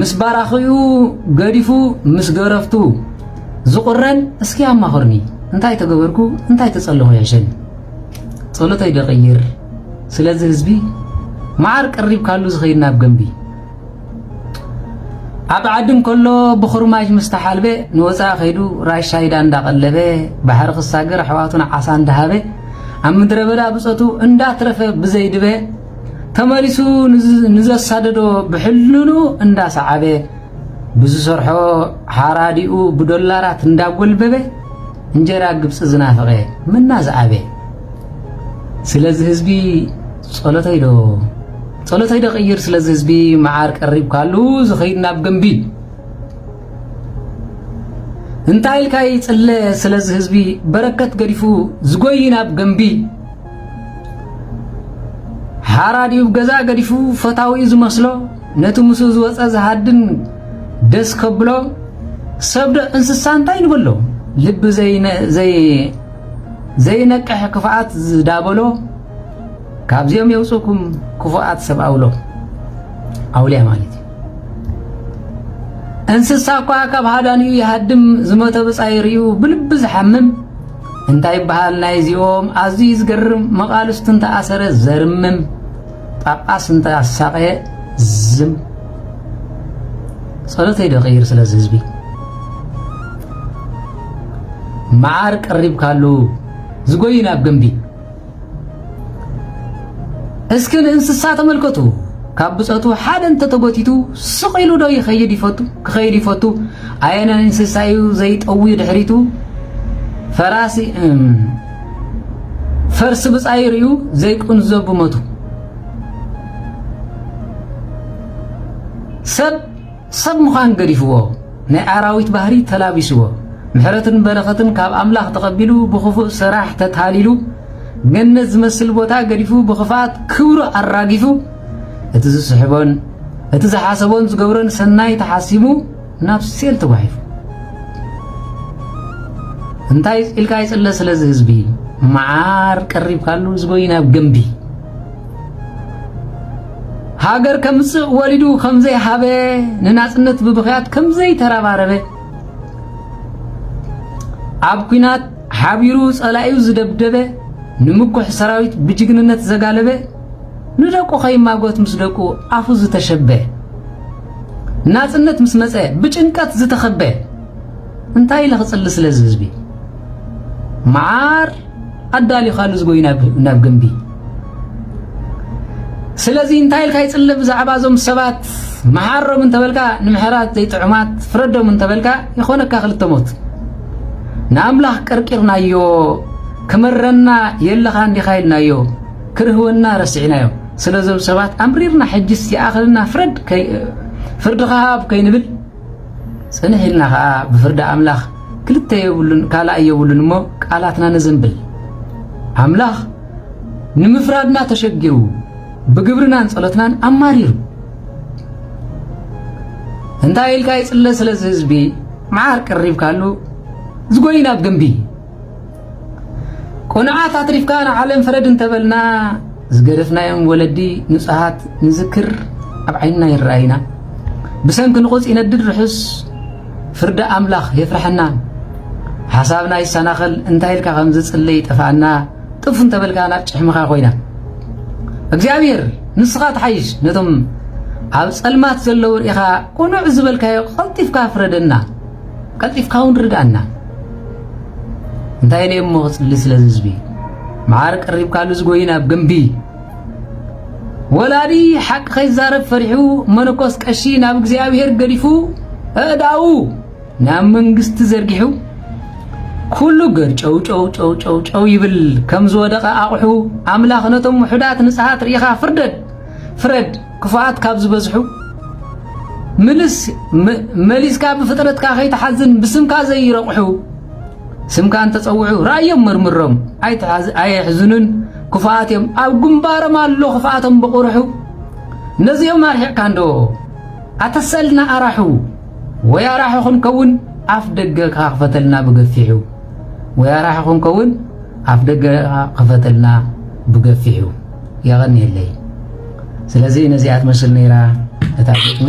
ምስ ባራኺኡ ገዲፉ ምስ ገረፍቱ ዝቑረን እስኪ ኣማኽርኒ እንታይ ተገበርኩ እንታይ ተጸለኹ ያሸን ጸሎተይ ደቕይር ስለዚ ህዝቢ መዓር ቀሪብ ካሉ ዝኸይድ ናብ ገንቢ ኣብ ዓድም ከሎ ብኹርማጅ ምስ ተሓልበ ንወፃኢ ከይዱ ራሻይዳ እንዳቐለበ ባሕሪ ክሳገር ኣሕዋቱን ዓሳ እንዳሃበ ኣብ ምድረ በዳ ብፀቱ እንዳትረፈ ብዘይድበ ተመሊሱ ንዘሳደዶ ብሕልኑ እንዳሰዓበ ብዝሰርሖ ሓራዲኡ ብዶላራት እንዳጎልበበ እንጀራ ግብፂ ዝናፈቐ ምና ዝኣበ ስለዚ ህዝቢ ጸሎተይዶ ጸሎተይዶ ቅይር ስለዚ ህዝቢ መዓር ቀሪብ ካሉ ዝኸይድ ናብ ገንቢል እንታይ ኢልካ ይጽለ ስለዚ ህዝቢ በረከት ገዲፉ ዝጎይ ናብ ገንቢል ሓራዲኡ ገዛ ገዲፉ ፈታዊኡ ዝመስሎ ነቲ ምስኡ ዝወፀ ዝሃድን ደስ ከብሎ ሰብ ዶ እንስሳ እንታይ ንበሎ ልቢ ዘይነቅሕ ክፍኣት ዝዳበሎ ካብዚኦም የውፅእኩም ክፉኣት ሰብ ኣውሎ ኣውልያ ማለት እዩ እንስሳ እኳ ካብ ሃዳንኡ ይሃድም ዝመተ ብፃይ ርዩ ብልቢ ዝሓምም እንታይ ይበሃል ናይዚኦም ኣዝዩ ዝገርም መቓልስቱ እንተኣሰረ ዘርምም ጳጳስ እንተኣሳቐየ ዝም ጸሎተይ ደቐይር ስለዚ ህዝቢ መዓር ቀሪብካሉ ዝጎይን ኣብ ገምቢ እስኪ ንእንስሳ ተመልከቱ። ካብ ብጸቱ ሓደ እንተተጎቲቱ ስቕ ኢሉ ዶ ይኸይድ ይፈቱ ክኸይድ ይፈቱ? ኣየነ እንስሳ እዩ ዘይጠዊ ድሕሪቱ ፈራሲ ፈርሲ ብጻይ ርዩ ዘይቁንዞ ብሞቱ ሰብ ሰብ ምዃን ገዲፍዎ ናይ ኣራዊት ባህሪ ተላቢስዎ ምሕረትን በረኸትን ካብ ኣምላኽ ተቐቢሉ ብኽፉእ ስራሕ ተታሊሉ ገነት ዝመስል ቦታ ገዲፉ ብኽፍኣት ክብሩ ኣራጊፉ እቲ ዝስሕቦን እቲ ዝሓሰቦን ዝገብሮን ሰናይ ተሓሲሙ ናብ ሴል ተጓሒፉ እንታይ ኢልካ ይጽለ ስለዚ ህዝቢ መዓር ቀሪብካሉ ዝጎይ ናብ ገምቢ ሃገር ከምጽእ ወሊዱ ከምዘይሃበ ንናጽነት ብብኽያት ከምዘይተረባረበ ኣብ ኩናት ሓቢሩ ጸላኢኡ ዝደብደበ ንምኩሕ ሰራዊት ብጅግንነት ዘጋለበ ንደቁ ከይማጎት ምስ ደቁ ኣፉ ዝተሸበ ናጽነት ምስ መጸ ብጭንቀት ዝተኸበ እንታይ ኢለ ክጽሊ ስለዚ ህዝቢ መዓር ኣዳሊኻሉ ዝጎይ ናብ ግምቢ ስለዚ እንታይ ኢልካ ይጽለ ብዛዕባ እዞም ሰባት መሓሮም እንተበልካ ንምሕራት ዘይጥዑማት ፍረዶም እንተበልካ ይኾነካ ክልተ ሞት ንኣምላኽ ቀርቂርናዮ ክመረና የለኻ እንዲኻ ኢልናዮ ክርህወና ረሲዕናዮ ስለዞም ሰባት ኣምሪርና ሕጅስ ይኣኽልና ፍረድ ፍርድኻ ሃብ ከይንብል ጽንሕ ኢልና ኸኣ ብፍርዲ ኣምላኽ ክልተ የብሉን ካልኣይ የብሉን እሞ ቃላትና ነዘንብል ኣምላኽ ንምፍራድና ተሸጊሩ ብግብርናን ጸሎትናን ኣማሪሩ እንታይ ኢልካ ይጽለ ስለዚ ህዝቢ መዓር ቀሪብካሉ ዝጎይን ኣብ ገንቢ ቅኑዓት ኣትሪፍካ ንዓለም ፍረድ እንተበልና ዝገደፍናዮም ወለዲ ንጹሃት ንዝክር ኣብ ዓይንና ይረኣይና ብሰንኪ ንቑጽ ይነድድ ርሑስ ፍርዲ ኣምላኽ የፍርሐና ሓሳብና ይሰናኸል እንታይ ኢልካ ከም ዝጽለ ይጠፍኣና ጥፍ እንተበልካ ናብ ጭሕምኻ ኮይና እግዚኣብሔር ንስኻ ትሓይሽ ነቶም ኣብ ጸልማት ዘለዉ ርኢኻ ቁኑዕ ዝበልካዮ ቐልጢፍካ ፍረደና ቀልጢፍካ ውን ርድኣና እንታይ ኢለ እሞ ክጽሊ ስለ ህዝቢ መዓር ቀሪብካሉ ዝጎይን ኣብ ግምቢ ወላዲ ሓቂ ከይዛረብ ፈሪሑ መነኮስ ቀሺ ናብ እግዚኣብሔር ገዲፉ እእዳኡ ናብ መንግስቲ ዘርጊሑ ኩሉ ገር ጨው ጨው ጨው ጨው ጨው ይብል ከም ዝወደቐ ኣቑሑ ኣምላኽ ነቶም ውሑዳት ንጽሃት ርኢኻ ፍርደድ ፍረድ ክፉኣት ካብ ዝበዝሑ ምልስ መሊስካ ብፍጥረትካ ከይትሓዝን ብስምካ ዘይረቑሑ ስምካ እንተጸውዑ ራእዮም መርምሮም ኣየሕዝኑን ክፉኣት እዮም ኣብ ግንባሮም ኣሎ ክፍኣቶም ብቑርሑ ነዚኦም ኣርሒቕካ እንዶ ኣተሰልና ኣራሑ ወይ ኣራሒ ክንከውን ኣፍ ደገ ክፈተልና ብገፊሑ ወይ ኣራሒ ክንከውን ኣፍ ደገ ክፈተልና ብገፊሑ የቐንየለይ። ስለዚ ነዚኣ ትመስል ነይራ እታ ግጥሚ።